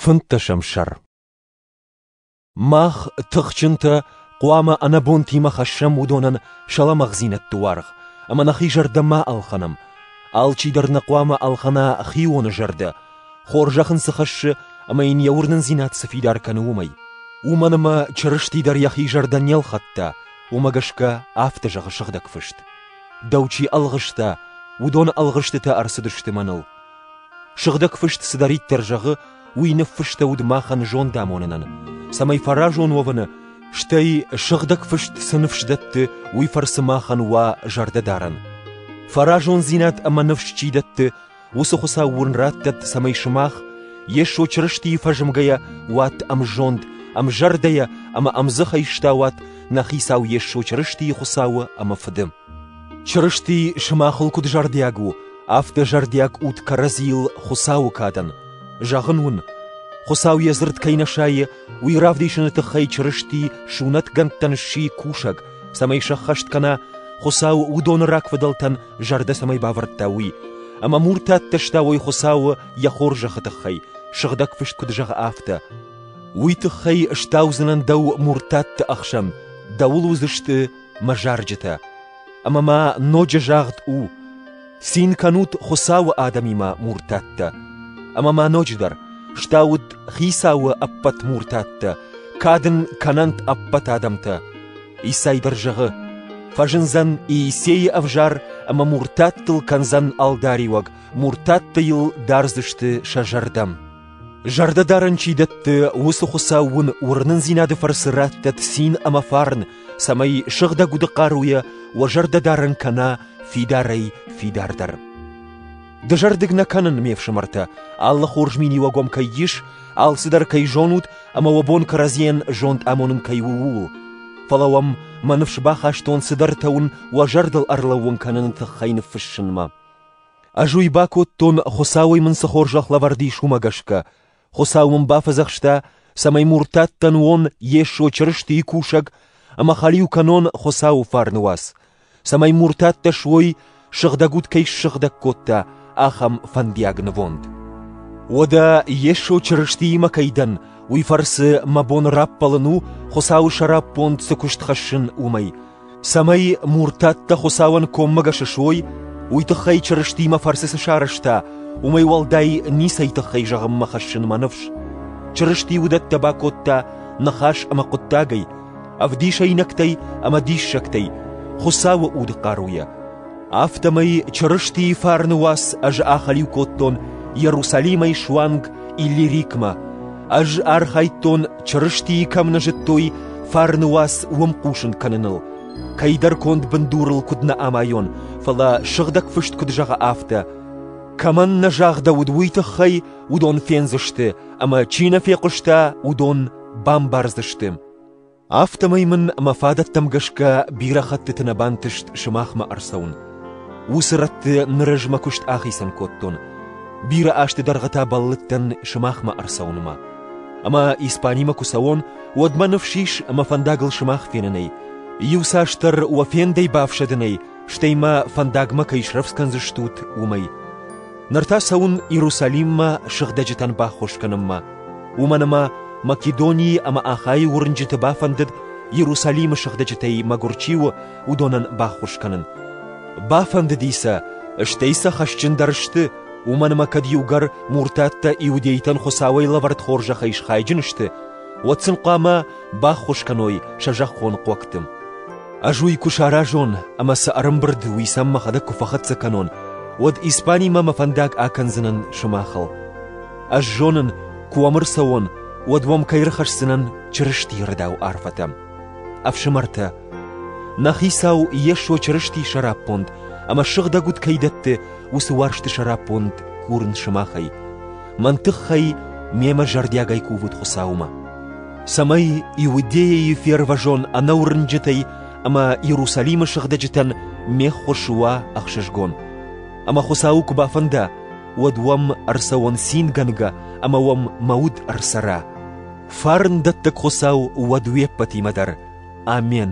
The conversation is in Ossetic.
Фынддӕсӕм сӕр Мах, тыхджынтӕ, хъуамӕ ӕнӕбонтимӕ хӕссӕм уыдонӕн сӕ лӕмӕгъдзинӕдты уаргъ ӕмӕ нӕхи зӕрдӕ ма ӕлхӕнӕм. Алчидӕр нӕ хъуамӕ ӕлхӕна хионы зӕрдӕ, хорзӕх ын цы хӕссы ӕмӕ йын йӕ уырнындзинад цы фидар кӕны, уымӕй. Уымӕн ӕмӕ Чырысти дӕр йӕхи зӕрдӕ не лхӕдта, уымӕ гӕсгӕ афтӕ зӕгъы Сыгъдӕг Фыст: Дӕу чи ӕлгъыста, уыдон ӕлгъыстытӕ ӕрцыдысты мӕныл. Сыгъдӕг фыст цыдӕриддӕр зӕгъы, уый ныффыстӕуыд махӕн зондамонынӕн, цӕмӕй фӕразон уӕвыны, стӕй Сыгъдӕг Фыст цы ныфс дӕтты, уый фӕрцы махӕн уа зӕрдӕдарӕн. Фӕразондзинад ӕмӕ ныфс чи дӕтты, уыцы Хуыцау уын раттӕд, цӕмӕй сымах, Йесо Чырыстийы фӕзмгӕйӕ, уат ӕмзонд, ӕмзӕрдӕйӕ ӕмӕ ӕмдзӕхӕй стауат нӕ Хицау Йесо Чырыстийы Хуыцауы ӕмӕ Фыды. Чырысти сымахыл куыд зӕрдиаг у, афтӕ зӕрдиаг ут кӕрӕдзийыл Хуыцауы кадӕн. Зӕгъын уын, Хуыцау йӕ дзырд кӕй нӕ сайы, уый равдисыны тыххӕй Чырысти сунӕтгӕндтӕн сси кусӕг, цӕмӕй сӕххӕст кӕна, Хуыцау уыдоны рагфыдӕлтӕн зӕрдӕ цӕмӕй бавӕрдта, уый. Ӕмӕ муртаттӕ стауой Хуыцауы йӕ хорзӕхы тыххӕй, сыгъдӕг фыст куыд зӕгъы, афтӕ. Уый тыххӕй стаудзынӕн дӕу муртатты ӕхсӕн, дӕуыл уыдзысты мӕ зарджытӕ, ӕмӕ ма ноджы загъд у: цин кӕнут Хуыцауы адӕмимӕ муртаттӕ. Ӕмӕ ма ноджыдӕр, стауд Хицауы ӕппӕт муртаттӕ, кад ын кӕнӕнт ӕппӕт адӕмтӕ. Исайбыр зӕгъы: фӕзындзӕн Иисейы ӕвзӕр ӕмӕ муртаттыл кӕндзӕн ӕлдариуӕг, муртаттӕ йыл дардзысты сӕ зӕрдӕм. Зӕрдӕдарӕн чи дӕтты, уыцы Хуыцау уын уырнындзинады фӕрцы раттӕт цин ӕмӕ фарн, цӕмӕй сыгъдӕг уды хъаруйӕ уӕ зӕрдӕдарӕн кӕна фидарӕй фидардӕр. Дызӕрдыг нӕ кӕнын, ме фсымӕртӕ, алы хорз миниуӕг уӕм кӕй ис, алцыдӕр кӕй зонут ӕмӕ уӕ бон кӕрӕдзийӕн зонд амонын кӕй у, ууыл. Фӕлӕ уӕм мӕ ныфс бахастон цыдӕртӕ уын уӕ зӕрдыл ӕрлӕууын кӕныны тыххӕй ныффыссынмӕ. Ӕз уый бакодтон, Хуыцауӕй мын цы хорзӕх лӕвӕрд ис, уымӕ гӕсгӕ. Хуыцау мын бафӕдзӕхста, цӕмӕй муртаттӕн уон Йесо Чырыстийы кусӕг ӕмӕ хӕлиу кӕнон Хуыцауы фарны уац, цӕмӕй муртаттӕ суой, сыгъдӕг уд кӕй ссыгъдӕг кодта, ахӕм фӕндиаг нывонд. Уӕдӕ Йесо Чырыстиимӕ кӕй дӕн, уый фӕрцы мӕ бон раппӕлын у, Хуыцауы сӕраппонд цы куыст хӕссын, уымӕй. цӕмӕй муртаттӕ Хуцауӕн коммӕгӕс суой, уой туххӕй Чырыстимӕ фӕрцы цы сарӕзта, уомӕй уӕлдай ницӕй туххӕй зӕгъунмӕ хӕссунмӕ ныфс. Чырысти уыдӕттӕ бакодта ныхас ӕмӕ хъуыддагӕй, ӕвдисӕйнӕгтӕй ӕмӕ диссӕгтӕй, Хуыцауы удхъаруйӕ. Афтӕмӕй Чырыстийы фарны уац ӕз ахӕлиу кодтон Иерусалимӕй суанг Иллирикмӕ. Ӕз архайдтон, Чырыстийы кӕм нӕ зыдтой, фарны уац уым хъусын кӕныныл. Кӕйдӕр конд бындурыл куыд нӕ амайон, фӕлӕ сыгъдӕг фыст куыд зӕгъы афтӕ: Кӕмӕн нӕ загъдӕуыд уый тыххӕй, уыдон фендзысты, ӕмӕ чи нӕ фехъуыста, уыдон бамбардзысты. Афтӕмӕй мын мӕ фадӕттӕм гӕсгӕ бирӕ хӕттыты нӕ бантыст сымахмӕ ӕрцӕуын. Уыцы рӕтты ныр ӕз мӕ куыст ахицӕн кодтон. Бирӕ азты дӕргъы та бӕллыдтӕн сымахмӕ ӕрцӕуынмӕ. Ӕмӕ Испанимӕ куы цӕуон, уӕд мӕ ныфс ис мӕ фӕндагыл сымах фенынӕй, иуцасдӕр уӕ фендӕй бафсӕдынӕй, стӕй мӕ фӕндагмӕ кӕй срӕвдз кӕндзыстут, уымӕй. Ныр та цӕуын Иерусалиммӕ сыгъдӕджытӕн баххуыс кӕнынмӕ. Уымӕн ӕмӕ Македонийы ӕмӕ Ахайы уырнджыты бафӕндыд, Иерусалимы сыгъдӕджытӕй мӕгуыр чи у, уыдонӕн баххуыс кӕнын. Бафӕндыди сӕ, стӕй сӕ хӕсджындӕр сты, уымӕн ӕмӕ кӕд иугӕр муртаттӕ иудейтӕн Хуыцауӕй лӕвӕрд хорзӕхӕй схайджын сты, уӕд сын хъуамӕ баххуыс кӕной сӕ зӕххон хъуӕгты. Ӕз уый куы саразон ӕмӕ сӕ ӕрӕмбырд уый сӕм мӕхӕдӕг куы фӕхӕццӕ кӕнон, уӕд Испанимӕ мӕ фӕндаг акӕндзынӕн сымахыл. Ӕз зонын, куы уӕм ӕрцӕуон, уӕд уӕм кӕй ӕрхӕсдзынӕн Чырыстийы рдау арфӕтӕ. Ӕфсымӕртӕ, нӕ Хицау Йесо Чырыстийы сӕраппонд ӕмӕ сыгъдӕг уд кӕй дӕтты, уыцы уарзты сӕраппонд курын сымахӕй. Мӕн тыххӕй мемӕ зӕрдиагӕй кувут Хуыцаумӕ, цӕмӕй Иудейӕйы фервӕзон ӕнӕуырнджытӕй ӕмӕ Иерусалимы сыгъдӕджытӕн ме ххуыс уа ӕхсызгон. Ӕмӕ Хуыцауы куы бафӕнда, уӕд уӕм ӕрцӕуон цингӕнгӕ ӕмӕ уӕм мӕ уд ӕрцӕра. Фарн дӕттӕг Хуыцау уӕд уе ппӕтимӕ дӕр. Амен.